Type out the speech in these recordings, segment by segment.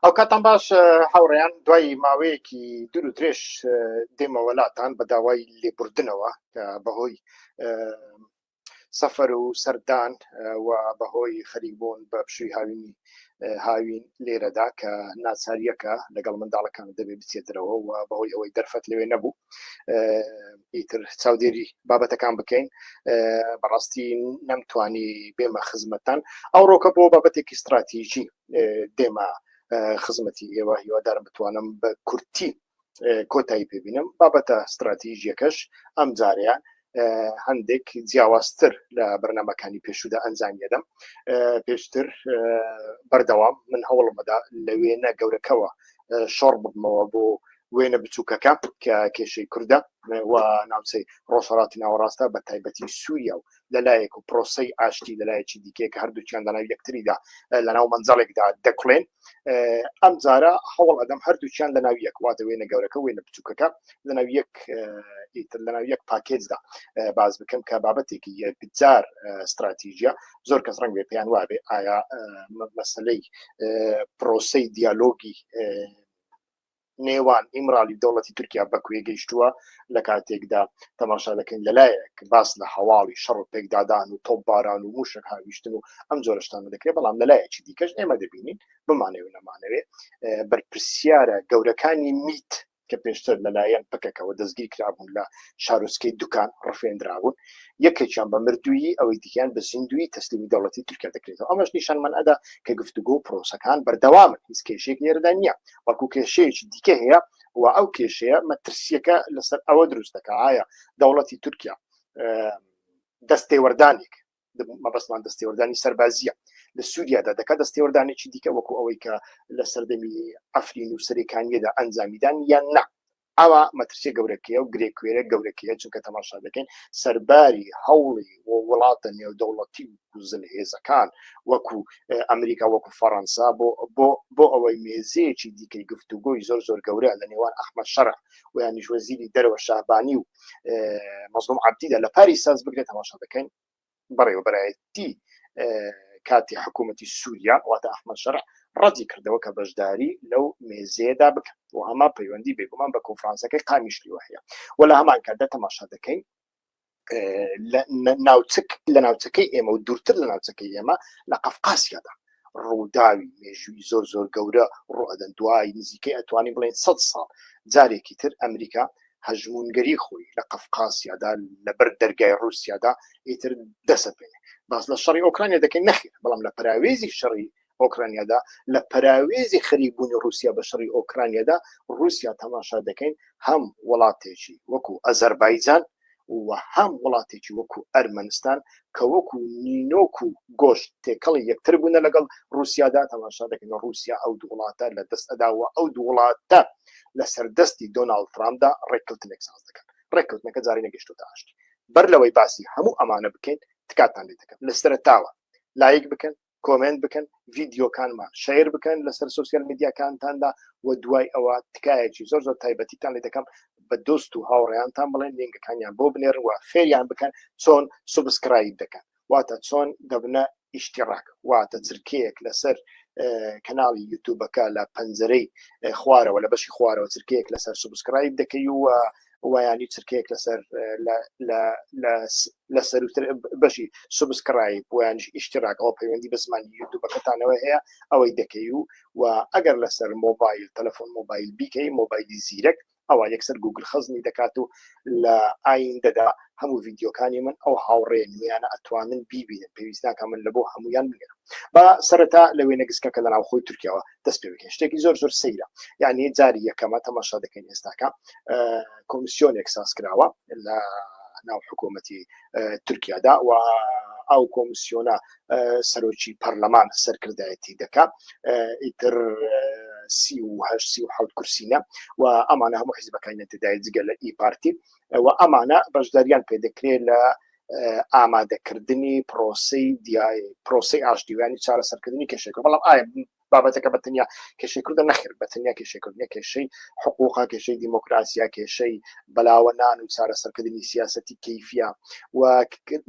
ئەو کاتان باش هاوڕێیان دوای ماوەیەکی دوور و درێژ دێمەوەلاتان بە داوای لێبوردنەوە کە بەهۆی سەفەر و سەردان و بەهۆی خەریبوون بە پشوی هاوینی هاوین لێرەدا کە ناچاریەکە لەگەڵ منداڵەکان دەبێ بچێتەوە و بەهۆی ئەوەی دەرفەت لەوێ نەبوو ئیتر چاودێری بابەتەکان بکەین بەڕاستی نەمتوانی بێمە خزمەتان ئەو ڕۆکە بۆ بابەتێکی استراتیژی دێمە خزمەتی ئێوە هیوادار بتوانم بە کورتی کۆتایی پێبینم بابەتە استراتیژیەکەش ئەم جاریان هەندێک جیاوازتر لە بەرنمەکانی پێشودا ئەنجامیدەم پێشتر بەردەوام من هەوڵمەدا لە وێنە گەورەکەەوە شۆڕ ببمەوە بۆ وێنە بچووکەکە کە کێشەی کوردە و ناوچەی ڕۆژهڵاتی ناوەڕاستە بە تایبەتی سووریا و لەلایەک و پرۆسی ئاشتی لەلایەکی دیکێک هەردووچیان لەناو یەکتریدا لەناو منجەڵێکدا دەکڵێن ئەم جارە هەوڵ ئەدەم هەردووچیان لەناو یەک واتە وێنە گەورەکە وێنە بچووکەکە لەناو یەک ئیتر لەناو یەک پاکێجدا باز بکەم کە بابەتێکی یەکجار استراتیژە زۆر کەس ڕنگ بێ پێیان وابێ ئایا مەسلەی پرۆسی دیالۆگی نێوان ئیمرالی دەوڵەتی تورکیا بەکوێ گەیشتووە لە کاتێکدا تەماشا دەکەین لەلایەک باس لە هەواڵی شەڕ و پێکدادان و تۆپ باران و موشک هاویشتن و ئەم جۆرەشتانە دەکرێت بەڵام لەلایەکی دیکەش ئێمە دەبینین بمانەوە نەمانەوێ بەرپرسیارە گەورەکانی میت کە پێشتر لەلایەن پکەکەەوە دەستگیر کرابوون لە شارۆچکەی دوکان ڕفێنراون یەکێکیان بە مردویی ئەوەی دیکەیان بە زیندوی تەسلیمی دەوڵەتی تورکیا دەکرێتەوە ئەمەش نیشانمان ئەدا کە گفتوگۆ پرۆسەکان بەردەوامن هیچ کێشێک لێرەدا نییە وەکو کێشەیەکی دیکە هەیە و ئەو کێشەیە مەترسیەکە لەسەر ئەوە دروست دەکە ئایا دەوڵەتی تورکیا دەستێوەردانێک مەبەستمان دەستێوەردانی سەربازیە لە سووریادا دەکە دەستێوەردانێکی دیکە وەکو ئەوەی کە لە سەردەمی ئەفرین و سەرەکانیەدا ئەنجامیدان یان نا ئەوا مەترسیە گەورەکەیە و گرێکوێرە گەورەکەیە چونکە تەماشا دەکەین سەرباری هەوڵی وڵاتە نێودەوڵەتی و زلهێزەکان وەکو ئەمریکا وەکو فەڕەنسا بۆ بۆ بۆ ئەوەی مێزەیەکی دیکەی گفتوگۆی زۆر زۆر گەورە لە نێوان ئەحمد شەرع و یانیش وەزیری دەرەوە شابانی و مەزلوم عبدیدا لە پاری ساز بگرێت تەماشا دەکەین بەڕێوەبەرایەتی کاتی حکوومەتی سووریا واتە ئەحمە شەر ڕەتی کردەوە کە بەشداری لەو مێزێدا بکەن و ئەما پەیوەندی بێگومان بە کۆنفرانسەکەی قامیشلی وهەیە و لە هەمان کاتدا تەماشا دەکەین ناوچک لە ناوچەکەی ئێمە و دوورتر لە ناوچەکەی ئێمە لە قەفقاسیادا ڕووداوی مێژووی زۆر زۆر گەورە ڕوئەدەن دوای نزیکەی ئەتوانین بڵێن سەد ساڵ جارێکی تر ئەمریکا هەژمونگەری خۆی لە قەفقاسیادا لەبەر دەرگای ڕوسیادا ئیتر دەسەپێنێ باس لە شەڕی ئۆکرانیا دەکەین نەخیر بەڵام لە پراوێزی شەڕی ئۆکرانیادا لە پراوێزی خەریبوونی رووسیا بە شەڕی ئۆکرانیادا رووسیا تەماشا دەکەین هەم وڵاتێکی وەکو ئەزەربایجان و وەهام وڵاتێکی وەکو ئەرمەنستان کە وەکو نینۆک و گۆشت تێکەڵی یەکتر بوونە لەگەڵ رووسیادا تەماشا دەکەین رووسیا ئەو دوو وڵاتە لە دەست ئەدا و ئەو دوو وڵاتە لەسەر دەستی دۆناڵد ترامپدا ڕێککەوتنێک ساز دەکەن ڕێککەوتنەکە جارێ نەگەشتوتە ئاشتی بەر لەوەی باسی هەموو ئەمانە بکەین تکاتان لێ دەکەم لە سەرەتاوە لایک بکەن کۆمێنت بکەن ڤیددیوکانمان شیر بکەن لەسەر سوسیال میدیاکانتاندا و دوای ئەوە تکایەکی زۆر زۆر تایبەتیتان لە دەکەم بە دۆست و هاوڕێیانتان بڵێن لینگەکانیان بۆ بنێر و فێریان بکەن چۆن سوبسکرایب دەکەن واتە چۆن دەبنە ئیشتیڕاک واتە چرکەیەک لەسەر کەناڵی یوتوبەکە لە پەنجەرەی خوارەوە لە بەشی خوارەوە چرکەیەک لەسەر سوبسکرایب دەکەی و وایانی چرکەیەک لەسەر لە سەروتر بەشی سوبسکڕایی بۆیانش ئیشتراک ئەو پەیوەندی بە زمانی یوتوبەکەتانەوە هەیە ئەوەی دەکەی و و ئەگەر لەسەر مۆبایل تەلەفۆن مۆبایل بیکەی مۆبایلی زیرەک ئەوە یەکسەر گوگل خەزنی دەکات و لە ئاین دەدا هەموو ڤیددیوکانی من ئەو هاوڕێ نویانە ئەتوانن بیبینن پێویستناکە من لە بۆ هەمویان بگەرم با سەرەتا لە وێنە گسکەکە لە ناوخۆی تورکیاوە دەست پێ بکەین شتێکی زۆر زۆر سەیرە یعنی جاری یەکەمە تەماشا دەکەین ئێستاکە کۆمسیۆنێک ساز کراوە لە ناو حکوومەتی تورکیادا و ئەو کۆمسیۆنە سەرۆکی پەرلەمان سەرکردایەتی دەکا ئیتر سی و هەشت سی و حوت کورسینە و ئەمانە هەموو حیزبەکانی تدای جگە لە ئی پارتی و ئەمانە بەشداریان پێ دەکرێت لە ئامادەکردنی پرۆسی دیای پرۆسی ئاشتیوانی چارەسەرکردنی کێشەکە بەڵام ئایا بابەتەکە بە تەنیا کێشەی کوردە نەخر بە تەنیا کێشەکردنی کێشەی حقوقا کێشەی دیموکراسیا کێشەی بەلاوە نان و چارەسەرکردنی سیاستی کەیفە و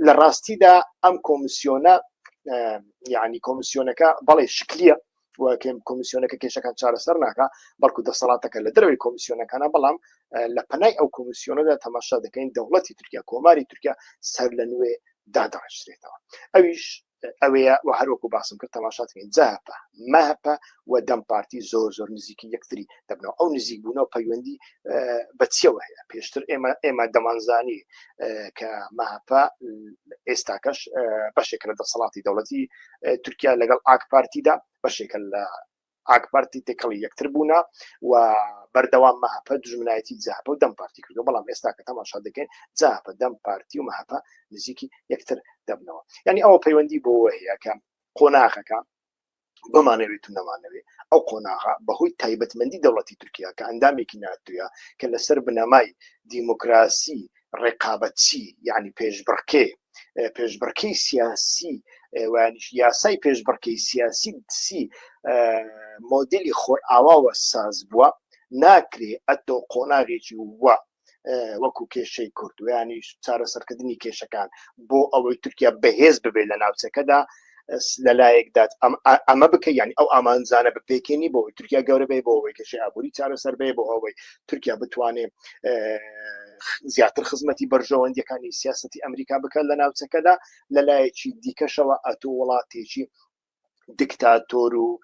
لە ڕاستیدا ئەم کۆمسیۆنە یعنی کۆمسیۆنەکە بەڵێ شکلیە کۆمیسیۆنەکە کێشەکان چارەسەر ناکە بەڵکو دەسەڵاتەکە لە دەروی کۆمیسیۆنەکانە بەڵام لە پەنای ئەو کۆمیسیۆنەدا تەماشا دەکەین دەوڵەتی تورکیا کۆماری تورکیا سەر لە نوێ دادەڕشتێتەوە ئەویش ئەوەیە و هەروەکو باسم کرد تەماشاتکەین جاپە ماپە و دەم پارتی زۆر زۆر نزیکی یەکتری دەبنەوە ئەو نزیک بوونەوە پەیوەندی بەچیەوە هەیە پێشتر ئێمە ئێمە دەمانزانی کە ماپە ئێستاکەش بەشێک لە دەسەڵاتی دەوڵەتی تورکیا لەگەڵ ئاکپارتیدا بەشێکە لە ئاکپارتی تێکەڵی یەکتر بوونا و بەردەوام مەهپە دژمنایەتی جاپە و دەم پارتی کردو بەڵام ئێستا کە تەماشا دەکەین جاپە دەم پارتی و مەهپە نزیکی یەکتر دەبنەوە یعنی ئەوە پەیوەندی بۆ هەیەکە قۆناغەکە بمانەوێت و نەمانەوێ ئەو قۆناغا بەهۆی تایبەتمەندی دەوڵەتی تورکیا کە ئەندامێکی ناتوە کە لەسەر بنەمای دیموکراسی ڕێقابەتچی یعنی پێشبڕکێ پێشبڕکەی سیاسی وانیش یاسای پێشبڕکەی سیاسی سی مۆدلی خۆر ئاواوە ساز بووە ناکرێ ئەتۆ قۆناغێکی وە وەکو کێشەی کوردویانیش چارەسەرکردنی کێشەکان بۆ ئەوەی تورکیا بەهێز ببێت لە ناوچەکەدا لەلایەک دات ئەمە بکە یعنی ئەو ئامانزانە بپێکێنی بۆ تورکیا گەورەبێ بۆ ئەوەی کەشی ئابووری چارەسەر بێ بۆ ئەوەی تورکیا بتوانێ زیاتر خزمەتی بەرژەوەندەکانی سیاستی ئەمریکا بکەن لە ناوچەکەدا لەلایەکی دیکەشەوە ئەتو وڵاتێکی دکتاتۆر و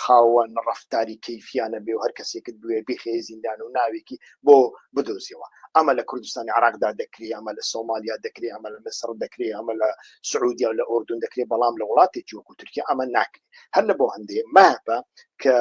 خاوەن ڕفتاری کەیفیانە بێ و هەر کەسێکت بوێ بخێ زیندان و ناوێکی بۆ بدۆزیەوە ئەمە لە کوردستانی عراقدا دەکری ئەمە لە سۆمالیا دەکری ئەمە لە مسر دەکری ئەمە لە سعودیا و لە ئۆردون دەکرێت بەڵام لە وڵاتێکی وەکو تورکیا ئەمە ناکرێت هەر لە بۆ هەندێ ماپە کە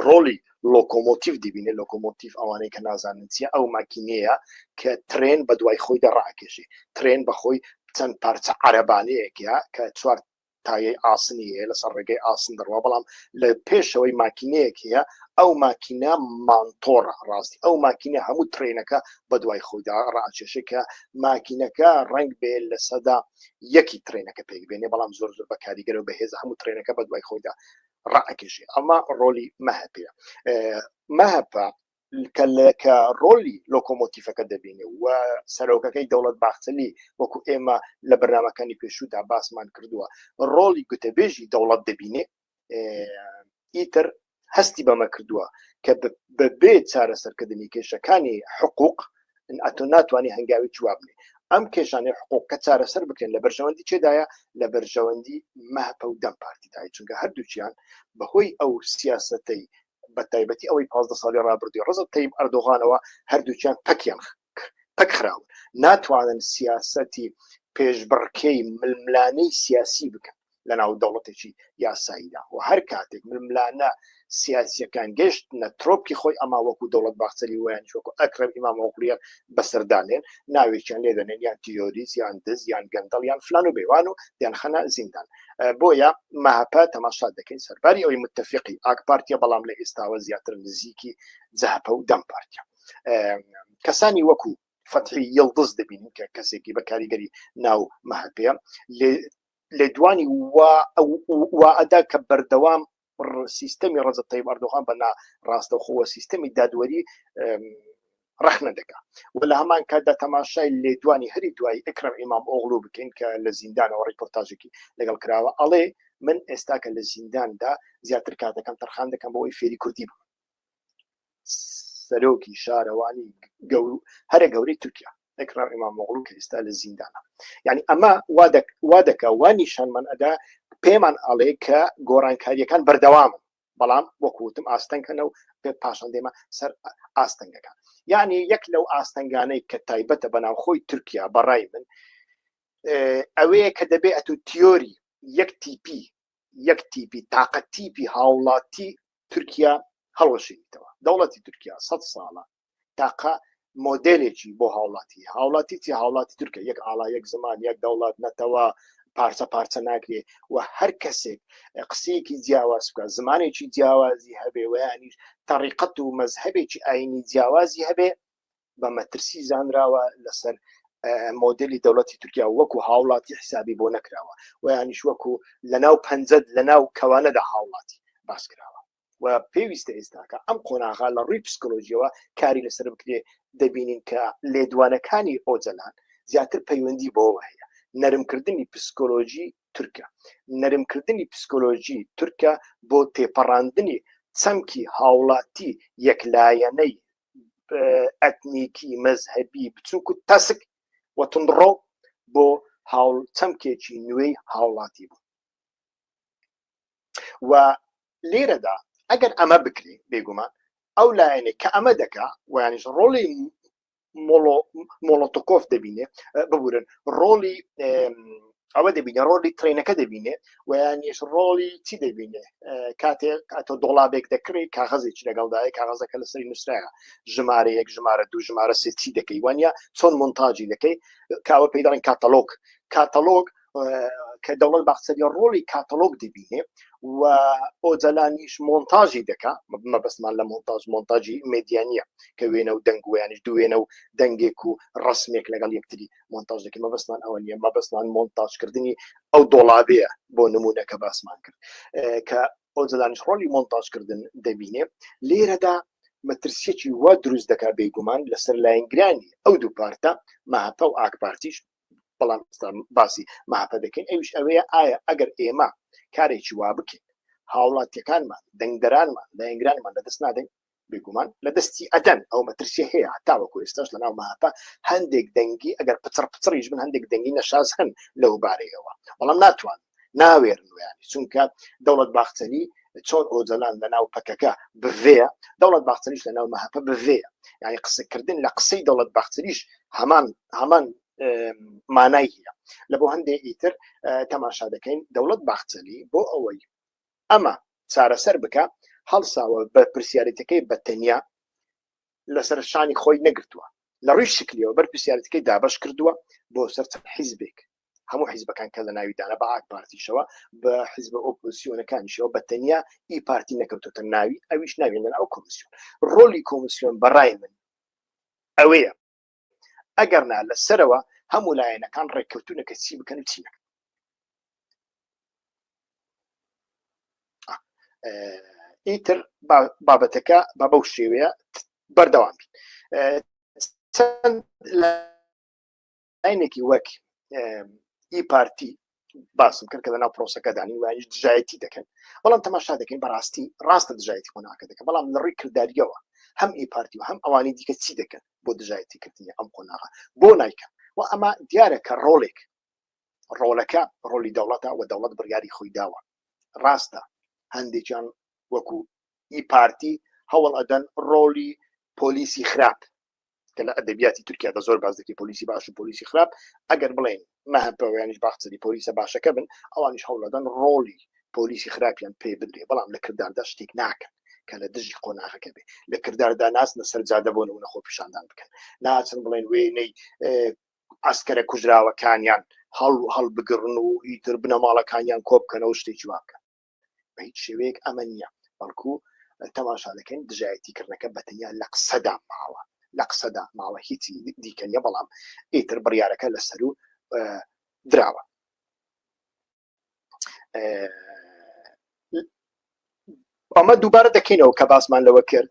ڕۆلی لۆکۆمۆتیف دەبینێ لۆکۆمۆتیف ئەوانەی کە نازانن چیە ئەو ماکینەیە کە ترێن بە دوای خۆی دەڕاکێشێ ترێن بەخۆی چەند پارچە عربانەیەکە کە چوار تایەی ئاسنی هەیە لەسەر ڕێگەی ئاسن دەڕوا بەڵام لە پێشەوەی ماکینەیەک هەیە ئەو ماکینە مانتۆڕە ڕاستی ئەو ماکینە هەموو ترینەکە بە دوای خۆیدا ڕاکێشێکە ماکینەکە ڕنگ بێ لە سەدا یەکی ترینەکە پێک بێنێ بەڵام زۆر زۆر بە کاریگەرە و بەهێز هەموو ترینەکە بە دوای خۆیدا ڕاکێشێ ئەمە ڕۆلی مەهپەیە مەهپە کە ڕۆلی لۆکۆمۆتیفەکە دەبینێ و سەرۆکەکەی دەوڵەت باخچەلی وەکو ئێمە لە بەرنمەکانی پێشودا باسمان کردووە ڕۆلی گوتەبێژی دەوڵەت دەبینێ ئیتر هەستی بەمە کردووە کە بەبێ چارەسەرکردنی کێشەکانی حقوق ئەتۆ ناتوانانی هەنگاوی جوابنێ ئەم کێشانەی حقوق کە چارەسەر بکرێن لە بەرژەوەندی چێدایە لە بەرژەوەندی مەهپە و دەم پارتیدای چونکە هەردووچیان بەهۆی ئەو سیاستەی بە تایبەتی ئەوەی پازدە ساڵی ڕابردووی ڕەزەب تەیب ئەردۆغانەوە هەردووکیان پەکیان پەک خراون ناتوانن سیاسەتی پێشبڕکێی ململانەی سیاسی بکەن لە ناو دەوڵەتێکی یاساییدا و هەر کاتێک ململانە سیاسیەکان گەشت نە ترۆپکی خۆی ئەما وەکو دەوڵەت باخچەری ویان وەکو ئەکرم ئیمام ئۆقلیە بەسەردانێن ناوێکیان لێدەنێن یان تیۆریز یان دز یان گەندەڵ یان فلان و بێوان و یان خەنە زیندان بۆیە مەهپە تەماشا دەکەین سەرباری ئەوی متتەفقی ئاک پارتیە بەڵام لە ئێستاوە زیاتر نزیکی جەهپە و دەم پارتە کەسانی وەکو فەتحی یڵدز دەبینین کە کەسێکی بە کاریگەری ناو مەهپەیە لێدوانی وا ئەدا کە بەردەوام سیستەمی ڕەزب تەیب ئەردۆغان بە نا ڕاستەوخۆوە سیستەمی دادوەری ڕخنە دەکا و لە هەمان کاتدا تەماشای لێدوانی هەری دوایی ئەکرم ئیمام ئۆغلو بکەین کە لە زیندانەوە ڕیپۆرتاژێکی لەگەڵ کراوە ئەڵێ من ئێستاکە لە زینداندا زیاتر کاتەکەم تەرخان دەکەم بۆەوەی فێری کوردی بم سەرۆکی شارەوانی گەورو هەرە گەورەی تورکیا ئەکرام ئمامۆغڵو کە ئێستا لە زیندانە یعنی ئەمە وا دەکە وا نیشانمان ئەدا پێمان ئاڵێ کە گۆڕانکاریەکان بەردەوام بەڵام وەکوتم ئاستەنکەنە و پێ پاشان دێمە سەر ئاستەنگەکان یعنی یەک لەو ئاستەنگانەی کە تایبەتە بەناوخۆی تورکیا بەڕای من ئەوەیە کە دەبێ ئەتو تیۆری یەک تیپی یەک تیپی تاقە تیپی هاوڵاتی تورکیا هەڵوەشێنیتەوە دەوڵەتی تورکیا سە ساڵە تاقە مۆدلێکی بۆ هاوڵاتی هاوڵاتی چی هاوڵاتی تورکە یەک ئاڵا یەک زمان یەک دەوڵات نەتەوە پارچە پارچە ناکرێ و هەر کەسێک قسەیەکی جیاواز بکە زمانێکی جیاوازی هەبێ ویانیش تەڕیقەت و مەزهبێکی ئاینی جیاوازی هەبێ بە مەترسی زانراوە لەسەر مۆدلی دەوڵەتی تورکیا وەکو هاوڵاتی حسابی بۆ نەکراوە و یانیش وەکو لە ناو پەنجەت لە ناو کەوانەدا هاوڵاتی باس کراوە و پێویستە ئێستاکە ئەم قۆناغا لە ڕووی پسکۆلۆژیەوە کاری لەسەر بکرێ دەبینین کە لێدوانەکانی ئۆجەلان زیاتر پەیوەندی بۆەوە هەیە نەرمکردنی پسکۆلۆژی تورکە نەرمکردنی پسکۆلۆژی تورکە بۆ تێپەڕاندنی چەمکی هاوڵاتی یەکلایەنەی ئەتنیکی مەزهبی بچووک و تەسک وەتونڕۆ بۆ هاوڵ چەمکێکی نوێی هاوڵاتی بوو و لێرەدا ئەگەر ئەمە بکری بێگومان ئەو لایەنێ کە ئەمە دەکا ویانش ڕۆڵی مۆڵۆتۆکۆف دەبینێ ببورن ڕۆڵی ئەوە دەبینێ ڕۆلی ترینەکە دەبینێ و یانیش ڕۆڵی چی دەبینێ کاتێک ئەتۆ دۆڵابێک دەکری کاغەزێکی لەگەڵدایە کاغەزەکە لەسەری نووسراە ژمارە یەک ژمارە دوو ژمارە سێ چی دەکەی وانە چۆن منتاجی دەکەی کاوە پێی دەڵێن کاتەلۆک کاتەلۆک کە دەوڵەت باخچەری ڕۆڵی کاتەلۆک دەبینێ و ئۆجلانیش مۆنتاژی دەکا مەبەستمان لە مۆنتاژ مۆنتاجی مدیانە کە وێنە و دەنگویانش دوێنە و دەنگێک و ڕسمێک لەگەڵ یەکتری مۆنتاژ دەکەین مەبەستمان ئەوە نیە مەبەستمان مۆنتاژکردنی ئەو دۆڵابەیە بۆ نمونە کە باسمان کرد کە ئەو جدانش ڕۆلی مۆنتاژکردن دەبینێ لێرەدا مەترسیەکی وا دروست دەکا بێگومان لەسەر لایەنگرانی ئەو دوو پارتە ماپە و ئاکپارتیش بەڵام باسی ماپە دەکەین ئەوش ئەوەیە ئایا ئەگەر ئێمە کارێکی وا بکەین هاوڵاتیەکانمان دەنگدەرانمان لایەنگرانمان لەدەست نادەین بێگومان لە دەستی ئەدەن ئەو مەترسیە هەیە تاوەکو ئێستاش لە ناو مەهاپە هەندێک دەنگی ئەگەر پچڕ پچڕیش من هەندێک دەنگی نەشاز هەن لەو بارەیەوە بەڵام ناتوان ناوێرن ویانی چونکە دەوڵەت باخچەلی چۆن ئۆجەلان لە ناو پەکەکە بڤێ دەوڵەت باخچەریش لە ناو مەهاپە بڤێ یعنی قسەکردن لە قسەی دەوڵەت باخچەریش هەمان هەمان مانای هەیە لە بۆ هەندێک ئیتر تەماشا دەکەین دەوڵەت باخچەلی بۆ ئەوەی ئەمە چارەسەر بکە هەڵساوە بەرپرسیارێتەکەی بە تەنیا لەسەر شانی خۆی نەگرتووە لە ڕووی شکلیەوە بەرپرسیارەتەکەی دابش کردووە بۆ سەر چەند حیزبێک هەموو حیزبەکان کە لە ناویدانە بە ئاک پارتیشەوە بە حیزب ئۆپۆسیۆنەکانیشەوە بە تەنیا ئی پارتی نەکەوتوتە ناوی ئەویش ناوێنەر ئەو کۆمسیۆن ڕۆلی کۆمسیۆن بەڕای من ئەوەیە ئەگەرنا لە سەرەوە هەموو لایەنەکان ڕێککەوتونەکە چی بکەن و چی نەکەن ئیتر بابەتەکە بە بەو شێوەیە بەردەوام بین چەند لاینێکی وەک ئی پارتی باسم کرد کە لەناو پرۆسەکەدانی وایش دژایەتی دەکەن بەڵام تەماشا دەکەین بەڕاستی ڕاستە دژایەتی قۆناکە دەکەن بەڵام لە ڕووی کردداریەوە هەم ئی پارتی و هەم ئەوانی دیکە چی دەکەن بۆ دژایەتی کردنی ئەم قۆناغە بۆ نایکەن و ئەمە دیارە کە ڕۆڵێک ڕۆلەکە ڕۆلی دەوڵەتە و دەوڵەت بڕیاری خۆی داوە ڕاستە هەندێکیان وەکو ئی پارتی هەوڵ ئەدەن ڕۆلی پۆلیسی خراپ کە لە ئەدەبیاتی تورکیا بە زۆر باز دەکەی پۆلیسی باش و پۆلیسی خراپ ئەگەر بڵێن مەهپەوەیانش باخچری پۆلیسە باشەکە بن ئەوانیش هەوڵەدەن ڕۆڵی پۆلیسی خراپیان پێ بدرێ بەڵام لە کرداردا شتێک ناکەن کە لە دژی قۆناغەکە بێ لە کرداردا ناسنە سەرجادە بۆ نمونە خۆ پیشاندان بکەن ناچن بڵێن وێنەی ئاسکەرە کوژراوەکانیان هەڵ هەڵبگرن و ئیتر بنەماڵەکانیان کۆبکەنەوە شتێکی واکەن بە هیچ شێوەیەک ئەمە نییە بەڵکو تەماشا دەکەین دژایەتی کردنەکە بەتەنیا لە قسەدا ماوە لە قسەدا ماوە هیچی دیکە نیە بەڵام ئیتر بڕیارەکە لە سەر و دراوە ئەمە دووبارە دەکەینەوە کە باسمان لەوە کرد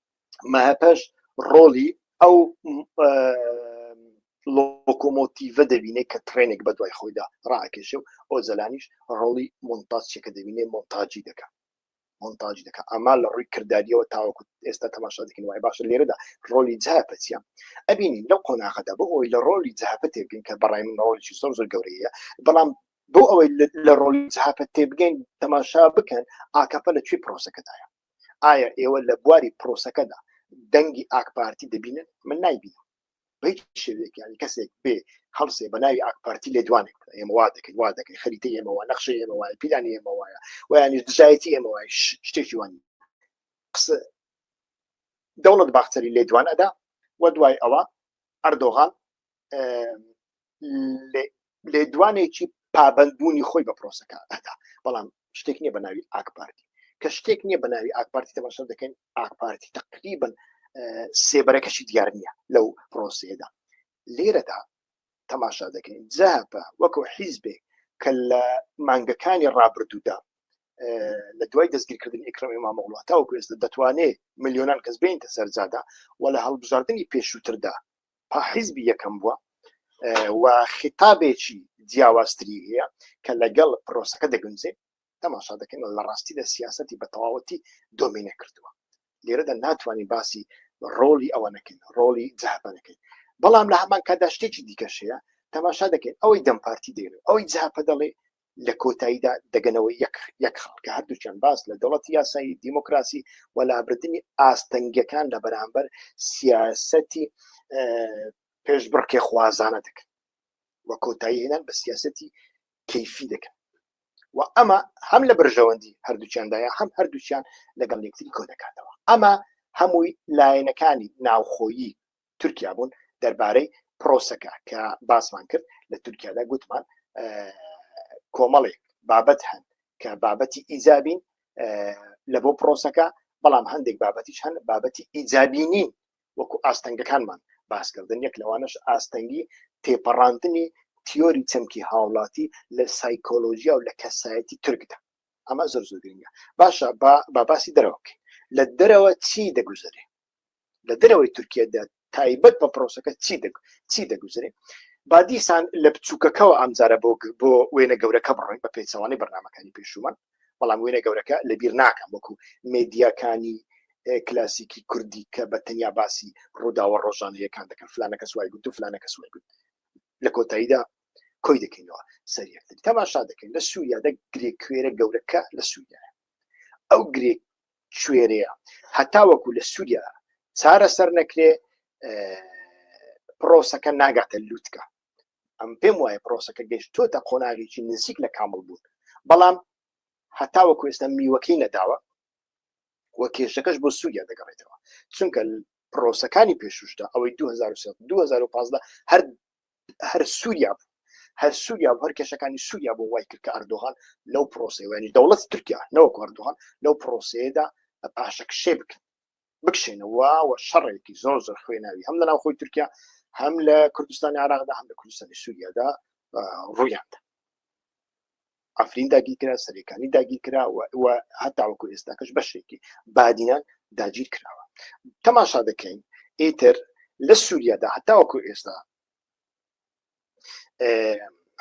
مەهەپەش ڕۆڵی ئەو لۆکۆمۆتیڤە دەبینێت کە ترێنێک بە دوای خۆیدا ڕاکێشە و ئۆزەلانیش ڕۆڵی مۆنتاچێکە دەبینێ مۆنتاجی دەکات مۆنتاج دەکە ئەما لە ڕووی کردداریەوە تاوەکو ئێستا تەماشا دەکەن وای باشە لێرەدا ڕۆلی جاپە چیە ئەبینین لەو قۆناغەدا بۆ ئەوی لە ڕۆلی جاپە تێبگەین کە بەڕای من ڕۆلیی زۆر زۆر گەورەیە بەڵام بۆ ئەوەی لە ڕۆلی جاپە تێبگەین تەماشا بکەن ئاکەپە لە کوێ پرۆسەکەدایە ئایا ئێوە لە بواری پرۆسەکەدا دەنگی ئاکپارتی دەبینن من نایبینم بەیت شێوێکیانی کەسێک بێ هەڵسێ بە ناوی ئاکپارتی لێ دوانێک ئێمە وا دەکەین وا دەکەین خەریتە ئێمەوە نەخشە ئێمە وایە پیلان ئێمە وایە ویانش دژایەتی ئێمە وای شتێکی وان قسە دەوڵەت باختەری لێ دوان ئەدا و دوای ئەوە ئەردۆغان لێدوانێکی پابندبوونی خۆی بە پرۆسەکە ئەدا بەڵام شتێک نییە بە ناوی ئاکپارتی کە شتێک نییە بە ناوی ئاکپارتی تەماشا دەکەین ئاکپارتی تقریبن سێبەرەکەشی دیار نییە لەو پرۆسەیەدا لێرەدا تەماشا دەکەین جەهپە وەکو حیزبێ کە لە مانگەکانی ڕابردوودا لە دوای دەستگیرکردن ئیکرمی مامەڵات تاوکو ئێستا دەتوانێت میلیۆنان کەس بینتە سەرجادا و لە هەڵبژاردننی پێشووتردا تا حیزبی یەکەم بووە و خیتابێکی جیاوازتری هەیە کە لەگەڵ پرۆسەکە دەگونجێ تەماشا دەکەن لە ڕاستی لە سیاستی بە تەواوەتی دۆمینە کردووە لێرەدا ناتوانین باسی ڕۆلی ئەوە نەکەین ڕۆلی جەهبە نەکەین بەڵام لە هەمان کادا شتێکی دیکەشەیە تەماشا دەکەین ئەوەی دەم پارتی دەێن ئەوەی جاپە دەڵێ لە کۆتاییدا دەگەنەوە یەک یەک خاڵ کە هەردووچەند باس لە دەوڵەتی یاسایی دیموکراسی و لابردنی ئاستەنگیەکان لە بەرامبەر سیاسەتی پێش بڕکێ خوازانە دەکەن و کۆتایی هێنان بە سیاسەتی کەیفی دەکەن و ئەمە هەم لە بەرژەوەندی هەردووچیاندایە هەم هەردووچیان لەگەڵ یەکتری کۆ دەکاتەوە ئەمە هەمووی لایەنەکانی ناوخۆیی تورکیا بوون دەربارەی پرۆسەکە کە باسمان کرد لە تورکیادا گوتمان کۆمەڵێک بابەت هەن کە بابەتی ئیزابین لە بۆ پرۆسەکە بەڵام هەندێک بابەتیش هەن بابەتی ئیزابینی وەکو ئاستەنگەکانمان باسکردن یەک لەوانش ئاستەنگی تێپەڕاندنی تیۆری چەمکی هاوڵاتی لە سایکۆلۆژیا و لە کەسایەتی ترکدا ئەمە زۆر زۆرگرنگە باشە با باسی دەرەوەکە لە دەرەوە چی دەگوزارێ لە دەرەوەی تورکیادا تایبەت بە پرۆسەکە چی دەک چی دەگوزرێ با دیسان لە بچووکەکەەوە ئەمجارە بۆ بۆ وێنە گەورەکە بڕۆین بە پێچەوانی بەرنمەکانی پێشومان بەڵام وێنە گەورەکە لە بیر ناکەم وەکو مدیاکانی کلاسیکی کوردی کە بە تەنیا باسی ڕووداوە ڕۆژانەیەکان دەکەن فلانەکە سوای گوت و فلانەکە سوای گوت لە کۆتاییدا کۆی دەکەینەوە سەریەکتر تەماشا دەکەین لە سووریادا گرێکوێرە گەورەکە لە سووریا ئەو گرێک کوێرەیە هەتاوەکو لە سووریا چارە سەر نەکرێ پرۆسەکە ناگاتە لووتکە ئەم پێم وایە پرۆسەکە گەشتۆتە قۆناغێکی نزیک لە کامل بوون بەڵام هەتاوە کوێستە میوەکەی نەداوە وە کێشەکەش بۆ سووریا دەگەڕێتەوە چونکە پرۆسەکانی پێشوشدا ئەوەی 2015 هەر هەر سووریا بوو هەر سووریا هەر کێشەکانی سووریا بۆ وای کرد کە ئەردۆغان لەو پرۆسەوەنی دەوڵەت تورکیا نەوە کۆردوغان لەو پرۆسەیەدا پاشەکشێ بکەن بکشێنەوە و شەڕێکی زۆر زۆر خوێناوی هەم لە ناو خۆی تورکیا هەم لە کوردستانی عراقدا هەم لە کوردستانی سووریادا ڕوویاندا عفرین داگیرکرا سەرەکانی داگیرکرا و هەتاوەکو ئێستاکەش بەشێکی بادینان داگیر کراوە تەماشا دەکەین ئیتر لە سووریادا هەتاوەکو ئێستا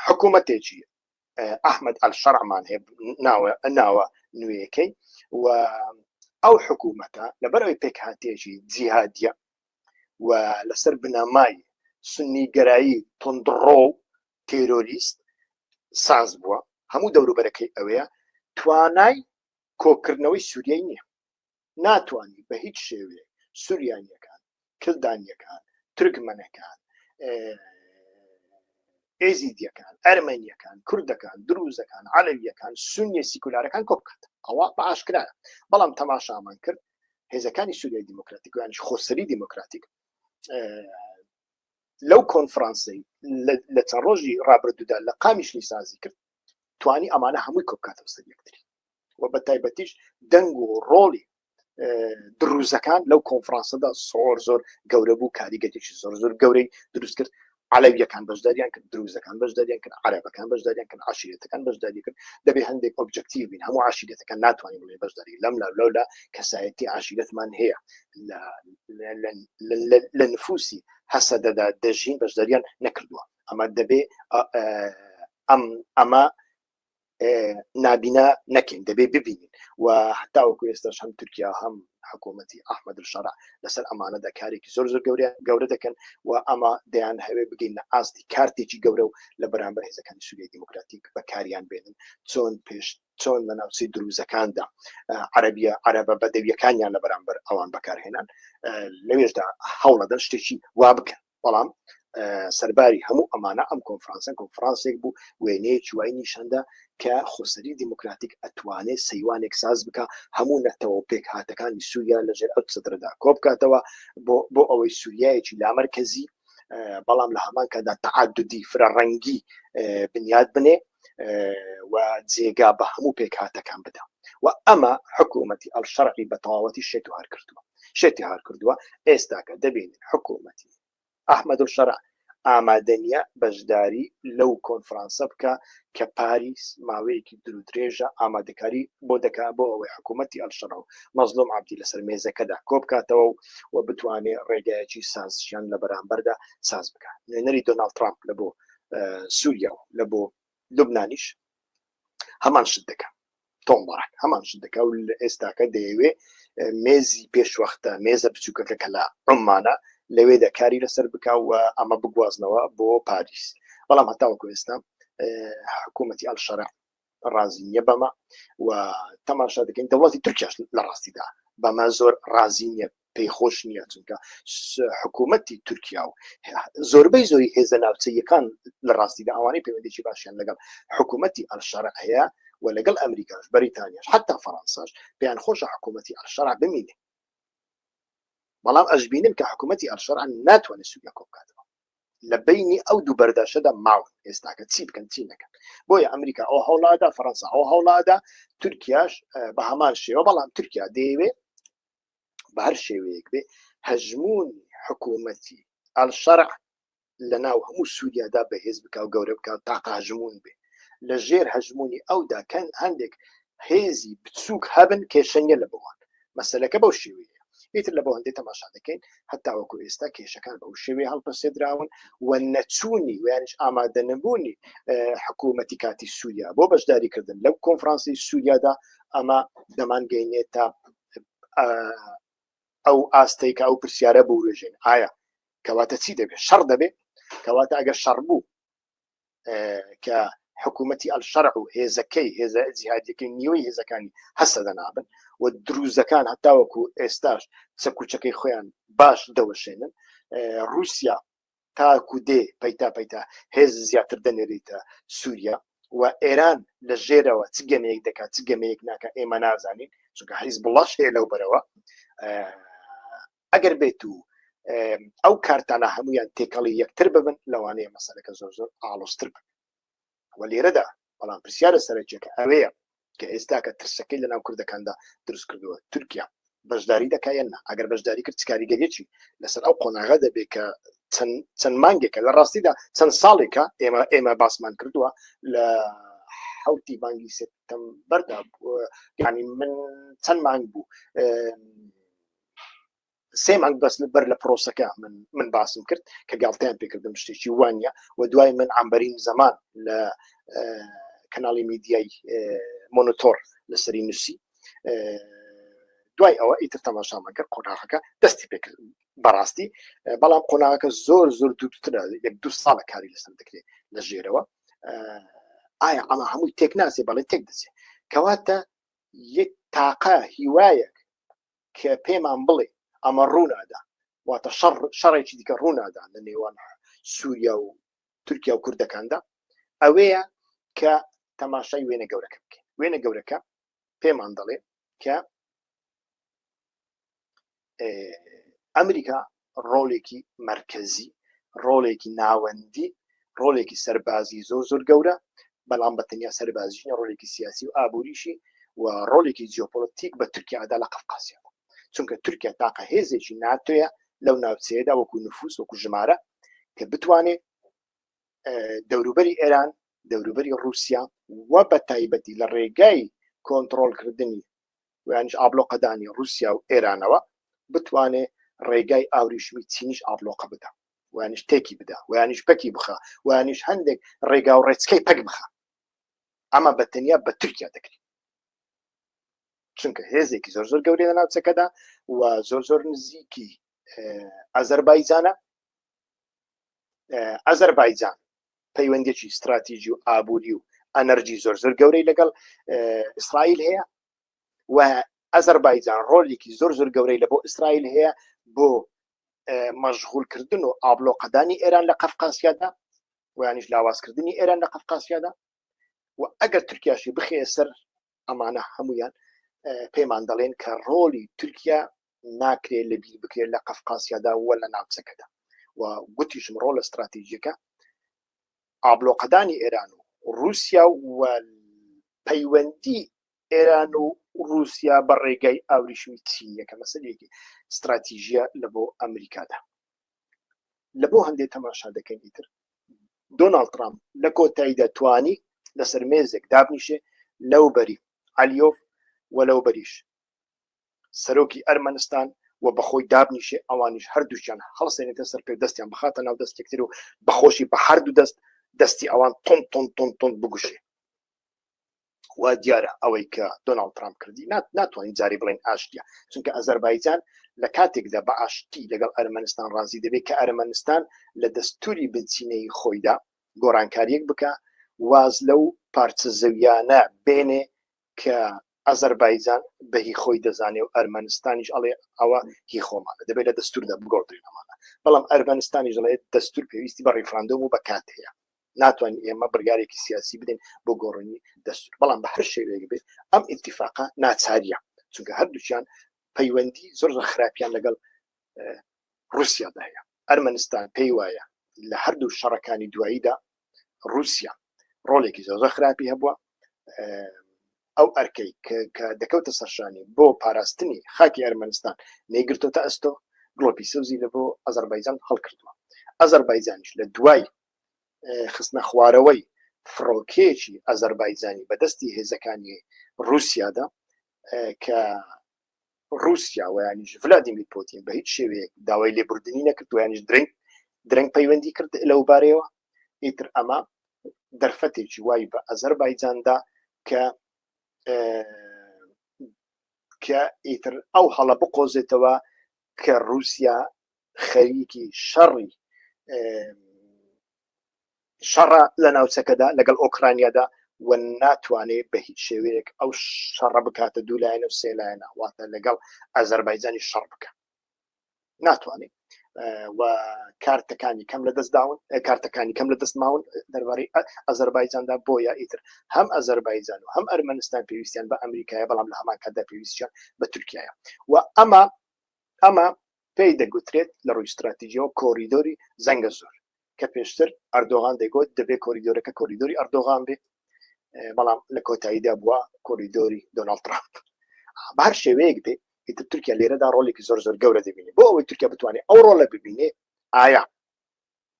حکوومەتێکی ئەحمد ئەل شەرعمان هەیە ناوە ناوە نوێیەکەی و ئەو حکوومەتە لەبەرەوەی پێکهاتێکی جیهادە و لەسەر بنەمای سنی گەرایی تندڕۆ تیرۆریست ساز بووە هەموو دەوروبەرەکەی ئەوەیە توانای کۆکردنەوەی سووریای نییە ناتوانانی بە هیچ شێوێ سووریانیەکان کلدانیەکان ترکمەنەکان ئێزیدیەکان ئەرمەنیەکان کوردەکان دروزەکان عەلەویەکان سنیە سیکولارەکان کۆ بکات ئەوە بە ئاشکرایە بەڵام تەماشامان کرد هێزەکانی سووریای دیموکراتیکیانش خۆسەری دیموکراتیک لەو کۆنفرانسی لە چەند ڕۆژی ڕابردوودا لە قامیش نیسازی کرد توانی ئەمانە هەمووی کۆکاتەوە سەر یەکتری و بە تایبەتیش دەنگ و ڕۆڵی دروزەکان لەو کۆنفرانسەدا سۆر زۆر گەورە بوو کاریگەتێکی زۆر زۆر گەورەی دروست کرد علاویەکان بەشداریان کرد دروزەکان بەشداریان کرد عربەکان بەشداریان کرد عشیرەتەکان بەشداری کرد دەبێ هەندێک ئۆبجکتیو بین هەموو عشیرەتەکان ناتوانین بڵێ بەشداری لەم لا لەولا کەسایەتی عشیرەتمان هەیە لە نفوسی هەسەدەدا دەژین بەشداریان نەکردووە ئەمە دەبێ ئەم ئەمە نابینا نەکەین دەبێ ببینین و هەتاوەکو ئێستاش هەم تورکیا هەم حکوومەتتی ئەحمد شەڕ لەسەر ئەمانەدا کارێکی زۆر زۆر گەورە گەورە دەکەن و ئەمە دەیان هەوێ بگەین لە ئاستی کارتێکی گەورە و لە بەرامبەر هێزەکانی سووری دیموکراتیک بەکاریان بێنن چۆن پێشت چۆن لە ناوچەی دروزەکاندا عەربیە عەرەبە بەدەویەکانیان لە بەرامبەر ئەوان بەکارهێنان لەوێشدا هەوڵەدەن شتێکی وا بکەن بەڵام سەرباری هەموو ئەمانە ئەم کۆنفرانسە کۆنفرانسێک بوو وێنەیە چوای نیشاندا کە خۆسەری دیموکراتیک ئەتوانێت سەیوانێک ساز بکە هەموو نەتەوە پێک هاتەکانی سووریا لەژێر ئەو سەدردا کۆبکاتەوە بۆ بۆ ئەوەی سووریایەکی لامەرکەزی بەڵام لە هەمان کەدا تعددی فرە ڕەنگی بنیاد بنێ و جێگا بە هەموو پێکهاتەکان بدەم و ئەمە حکوومەتی ئەل شەرقی بە تەواوەتی شێت و هەر کردووە شێتی هەر کردووە ئێستاکە دەبینین حکوومەتی ئەحمد و شەرع ئامادەنیە بەشداری لەو کۆنفرانسە بکە کە پاریس ماوەیەکی درودرێژە ئامادەکاری بۆ دەکا بۆ ئەوەی حکوومەتتی ئەلشەڕ و مەزلوم عبدی لەسەر مێزەکەدا کۆبکاتەوە و و بتوانێت ڕێگایەکی سازشیان لە بەرامبەردا ساز بکە نوێنەری دۆناال ترامپ لە بۆ سووریا و لە بۆ لوبنانیش هەمان شت دەکە تۆمبارک هەمان شت دەکە و لە ئێستاکە دەیەوێ مێزی پێشوەختە مێزە بچووکەکە کە لە عمانە لەوێ دەکاری لەسەر بکە و ئەمە بگوازنەوە بۆ پاریس بەڵام هەتاوەکو ئێستا حکوومەتتی ئەلشەرع ڕازی نییە بەمە و تەماشا دەکەین دەوڵاتی تورکیاش لە ڕاستیدا بەمە زۆر ڕازی نییە پێی خۆش نییە چونکە حکوومەتتی تورکیا و زۆربەی زۆری هێزە ناوچەیەکان لە ڕاستیدا ئەوانەی پەیوەندێکی باشیان لەگەڵ حکوومەتتی ئەلشار هەیە و لەگەڵ ئەمریکاش بەریتانیاش حتا فەرەنساش پێیان خۆشە حکوومەتتی ئەلشار بمینێ بەڵام ئەشببینن کە حکوومەتتی ئەلشار ناتوانێت سویا کۆ بکاتەوە لە بینی ئەو دوو بەرداشەدا ماون ئێستاکە چی بکەن چی نەکەن بۆیە ئەمریکا ئەو هەوڵادا فەرەنسا ئەو هەوڵادا تورکیاش بە هەمان شێوە بەڵام تورکیا دەیەوێ بە هەر شێوەیەک بێ هەژمون حکوومەتی ئەلشەرع لە ناو هەموو سووریادا بەهێز بکە و گەورە بکە و تاقاژمون بێ لە ژێر هەژمونی ئەودا کەن هەندێک هێزی بچووک هەبن کێشە نیە لە بۆوان مەسلەکە بەو شێوەیە ئیتر لە بۆندی تەماشا دەکەین هەتاوەکو ئێستا کێشەکان بەو شێوێ هەڵپەسێدراون و نەچوونی ویانش ئامادە نەبوونی حکوومەتی کاتی سووریا بۆ بەشداریکردن لەو کۆنفرانسی سووریادا ئەمە دەمانگەینێت تا ئەو ئاستەی کە ئەو پرسیارە بورژێن ئایا کەواتە چی دەبێت شەڕ دەبێت کەواتە ئەگەر شەڕ بوو کە حکوومەتتی ئەلشەرع و هێزەکەی هێزە جیهادەکەی نیوەی هێزەکانی هەستە دەنابن و دروزەکان هەتاوەکو ئێستاش سەکوچەکەی خۆیان باش دەوەشێنن رووسیا تاکو دێ پەیتا پەیتا هێز زیاتر دەنێریتە سووریا و ئێران لە ژێرەوە چ گەمەیەک دەکات چ گەمەیەک ناکە ئێمە نازانین چونکە حیز بڵاش هەیە لەو بەرەوە ئەگەر بێت و ئەو کارتانە هەمویان تێکەڵی یەکتر ببن لەوانەیە مەسەلەکە زۆر زۆر ئاڵۆستر بن وە لێرەدا بەڵام پرسیارە سەرەکیەکە ئەوەیە کە ئێستاکە ترسەکەی لە ناو کوردەکاندا دروست کردووە تورکیا بەشداری دەکایەن ئەگەر بەشداری کرد کاریگەریی لەسەر ئەو قۆناغە دەبێت کە چەند مانگێکە لە ڕاستیدا چەند ساڵێکە ئێمە ئێمە باسمان کردووە لە حوتی مانگی سپتم بەردا ینی من چەند مانگ بوو سێ مانگ بەس بەر لە پرۆسەکە من من باسم کرد کە گاڵتەیان پێکردم شتێکی وانە و دوای من ئەمبەرین زەمان لە کەناڵی میدیای مۆنتۆر لەسەری نووسی دوای ئەوە ئیتر تەماشامەکە قۆناغەکە دەستی پێ بەڕاستی بەڵام قۆناغەکە زۆر زۆر دووترە یەک دو ساڵە کاری لەسەر دەکرێت لە ژێرەوە ئایا ئەمە هەمووی تێک ناسێ بەڵێ تێک دەچێت کەواتە یەک تاقە هیوایەک کە پێمان بڵێ ئەمە ڕوونادا واتە شەڕ شەڕێکی دیکە ڕوونادا لە نێوان سووریا و تورکیا و کوردەکاندا ئەوەیە کە تەماشای وێنە گەورەکە بکەین وێنە گەورەکە پێمان دەڵێ کە ئەمریکا ڕۆڵێکی مەرکەزی، ڕۆڵێکی ناوەندی، ڕۆڵێکی سەربازی زۆر زۆر گەورە، بەڵام بە تەنیا سەربازیش نیە، ڕۆڵێکی سیاسی و ئابووریشی و ڕۆڵێکی جیۆپۆلەتیک بە تورکیادا لە قەفقاسیادا. چونکە تورکیا تاقە هێزێکی ناتۆیە لەو ناوچەیەدا وەکوو نفووس، وەکوو ژمارە کە بتوانێ دەوروبەری ئێران، دەوروبەری ڕووسیا و بە تایبەتی لە ڕێگای کۆنتڕۆڵکردنی ویانیش ئابلۆقەدانی ڕووسیا و ئێرانەوە بتوانێ ڕێگای ئاوریشمی چینیش ئابلۆقە بدا ویانیش تێکی بدا ویانیش پەکی بخە ویانیش هەندێک ڕێگا و ڕێچکەی پەک بخە ئەمە بە تەنیا بە تورکیا دەکرێت چونکە هێزێکی زۆر زۆر گەورەیە ناوچەکەدا و زۆر زۆر نزیکی ئازەربایجانە ئەزەربایجان پەیوەندێکی استراتیژی و ئابووری و ئەنەرجی زۆر زۆر گەورەی لەگەڵ ئیسرائیل هەیە و ئەزەربایجان ڕۆلێکی زۆر زۆر گەورەی لە بۆ ئیسرائیل هەیە بۆ مەشغولکردن و ئابلۆقەدانی ئێران لە قەفقاسیادا ویانش لاوازکردنی ئێران لە قەفقاسیادا و ئەگەر ترکیاشی بخێ سەر ئەمانە هەمویان پێمان دەڵێن کە ڕۆلی تورکیا ناکرێت لە بیر بکرێت لە قەفقاسیادا وە لە ناوچەکەدا و گوتیشم ڕۆ لە استراتیژیەکە ئابلۆقەدانی ئێران و رووسیا و پەیوەندی ئێران و رووسیا بە ڕێگای ئاوریشمی چینیەکە مەسەرێکی استراتیژیە لە بۆ ئەمریکادا لە بۆ هەندێ تەماشا دەکەین ئیتر دۆناڵد ترامپ لە کۆتاییدا توانی لەسەر مێزێک دابنیشێ لەو بەری علیۆف و لەو بەریش سەرۆکی ئەرمەنستان و بەخۆی دابنیشێ ئەوانیش هەردووچیان هەڵسێنێتە سەر پێ دەستیان بخاتە ناو دەستێکتر و بەخۆشی بە هەردوو دەست دەستی ئەوان تون تون تون تون بگوشێ وا دیارە ئەوەی کە دۆناڵد ترامپ کردی نات ناتوانین جاری بڵێن ئاشتیا چونکە ئەزەربایجان لە کاتێکدا بە ئاشتی لەگەڵ ئەرمەنستان ڕازی دەبێت کە ئەرمەنستان لە دەستوری بنچینەی خۆیدا گۆڕانکاریەک بکە واز لەو پارچە زەویانە بێنێ کە ئەزەربایجان بەهی خۆی دەزانێ و ئەرمەنستانیش ئەڵێ ئەوە هی خۆمانە دەبێت لە دەستوردا بگۆڕدرێنەمانە بەڵام ئەرمەنستانیش دەڵێت دەستور پێویستی بە ڕیفراندۆم و بە کات هەیە ناتوانین ئێمە بڕیارێکی سیاسی بدەین بۆ گۆڕینی دەستور بەڵام بە هەر شێوەیەک بێت ئەم ئیتیفاقا ناچاریە چونکە هەردووچیان پەیوەندی زۆر زۆر خراپیان لەگەڵ رووسیادا هەیە ئەرمەنستان پێی وایە لە هەردوو شەڕەکانی دواییدا رووسیا ڕۆلێکی زۆر زۆر خراپی هەبووە ئەو ئەرکەی کە دەکەوتە سەرشانی بۆ پاراستنی خاکی ئەرمەنستان نەیگرتۆتە ئەستۆ گڵۆپی سەوزی لە بۆ ئەزەربایجان هەڵکردووە ئەزەربایجانش لە دوای خستنە خوارەوەی فڕۆکەیەکی ئازەربایجانی بەدەستی هێزەکانی رووسیادا کە رووسیا ویانیش ولادیمیر پۆتین بە هیچ شێوەیەک داوای لێبوردنی نەکرد ویانیش درنگ درنگ پەیوەندی کرد لەو بارەیەوە ئیتر ئەمە دەرفەتێکی وای بە ئازەربایجاندا کە کە ئیتر ئەو هەڵە بقۆزێتەوە کە رووسیا خەریکی شەڕی شەڕە لە ناوچەکەدا لەگەڵ ئۆکرانیادا و ناتوانێ بە هیچ شێوەیەک ئەو شەڕە بکاتە دوو لایەنە و سێلایەنە واتە لەگەڵ ئازەربایجانی شەڕ بکە ناتوانێت و کارتەکانی کەم لە دەست داون کارتەکانی کەم لە دەست ماون دەربارەی ئەزەربایجاندا بۆیە ئیتر هەم ئەزەربایجان و هەم ئەرمەنستان پێویستیان بە ئەمریکایە بەڵام لە هەمان کاتدا پێویستیان بە تورکایە و ئەمە ئەمە پێی دەگوترێت لە ڕووی ستراتیجییەوە کۆریدۆری زەنگەزور، کە پێشتر ئەردۆغان دەیگوت دەبێت کۆریدۆرەکە کۆریدۆری ئەردۆغان بێت، بەڵام لە کۆتاییدا بووە کۆریدۆری دۆناڵد ترامپ. بە هەر شێوەیەک بێت ئیتر تورکیا لێرەدا ڕۆڵێکی زۆر زۆر گەورە دەبینێت بۆ ئەوەی تورکیا بتوانێت ئەو ڕۆڵە ببینێت ئایا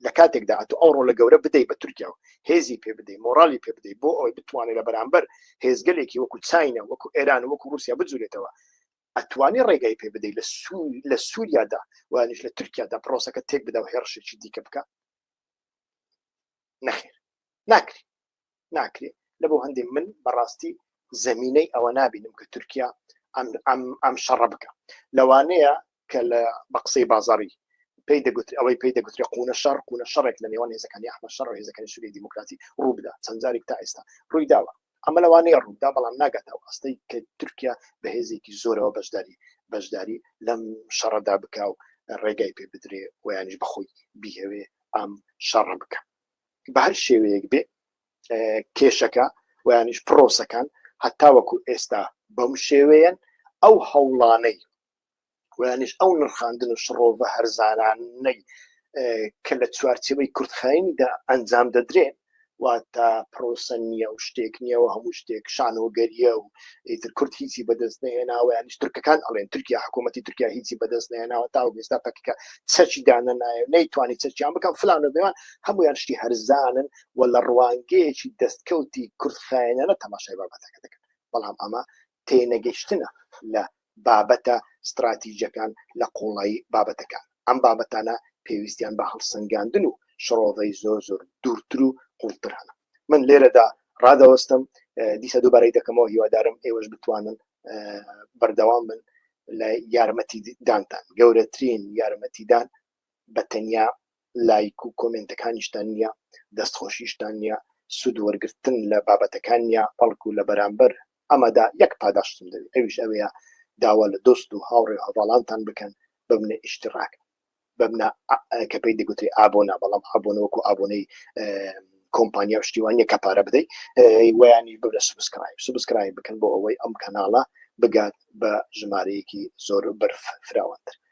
لە کاتێکدا ئەتو ئەو ڕۆلە گەورە بدەیت بە تورکیا و هێزی پێ بدەیت مۆرالی پێ بدەیت بۆ ئەوەی بتوانێت لە بەرامبەر هێزگەلێکی وەکو چینە وەکو ئێران وەکو رووسیا بجوورێتەوە ئەتوانی ڕێگای پێ بدەی لە سووریادا وانش لە تورکیادا پرۆسەکە تێک بدا و هێڕشێکی دیکە بکە نەخێر ناکری ناکرێ لە بۆ هەندێک من بەڕاستی زمینەی ئەوە نابینم کە تورکیا ئەم شەڕە بکە لەوانەیە کە لە بە قسەی بازاری پێی دەگوت ئەوەی پێی دەگوترێ قونە شەڕ قونە شەڕێک لە نێوان هێزەکانی ئەحمە شەڕ هێزەکانی سووری دیموکراتی ڕووبدا چەندجارێک تا ئێستا ڕووی داوە ئەمە لەوانەیە ڕووبدا بەڵام ناگاتە ئەو ئەستەی کە تورکیا بە هێزێکی زۆرەوە بەشداری بەشداری لەم شەڕەدا بکا و ڕێگای پێ بدرێ ویانش بەخۆی بیهوێ ئەم شەڕە بکە بە هەر شێوەیەک بێ کێشەکە ویانش پرۆسەکان هەتاوەکو ئێستا بەم شێوەیەن ئەو هەوڵانەی ویانیش ئەو نرخاندن و شڕۆڤە هەرزانانەی کە لە چوارچەوەی کورتخایینیدا ئەنجام دەدرێن واتە پرۆسە نییە و شتێک نییەوە هەموو شتێک شانۆگەریە و ئیتر کورد هیچی بەدەست نێناوە یانیش ترکەکان ئەڵێن ترکیا حکوومەتتی ترکیا هیچی بەدەست نێناوە تا و بێستا پەکەکە چەچی دانە نایە نەیتوانی چەچیان بکەم فلانە بێوان هەمویان شتی هەرزانن و لە ڕوانگەیەکی دەستکەوتی کورد خایەنانە تەماشای بابەتەکە دەکەن بەڵام ئەمە تێنەگەیشتنە لە بابەتە ستراتیجەکان لە قوڵایی بابەتەکان، ئەم بابەتانە پێویستیان بە هەڵسەنگاندن و شڕۆڤەی زۆر زۆر دوورتر و قوڵتر هەنە. من لێرەدا ڕادەوەستم، دیسە دووبارەی دەکەمەوە، هیوادارم ئێوەش بتوانن بەردەوام بن لە یارمەتی دانتان، گەورەترین یارمەتیدان بەتەنیا لایک و کۆمێنتەکانیشتان نیە دەست خۆشیشتان نیە سود وەرگرتن لە بابەتەکان نیە بەڵکو لە بەرامبەر ئەمەدا یەک پاداشتم دەوێت ئەویش ئەوەیە داوا لە دۆست و هاوڕێ و هەڤاڵانتان بکەن ببنە ئیشتراک ببنە کە پێی دەگوترێ ئابۆنە بەڵام ئابۆنە وەکو ئابۆنەی کۆمپانیا و شتی وان نیە کە پارە بدەیت ویانی ببنە سوبسکرایب سوبسکرایب بکەن بۆ ئەوەی ئەم کەناڵە بگات بە ژمارەیەکی زۆر بەرف فراوانتر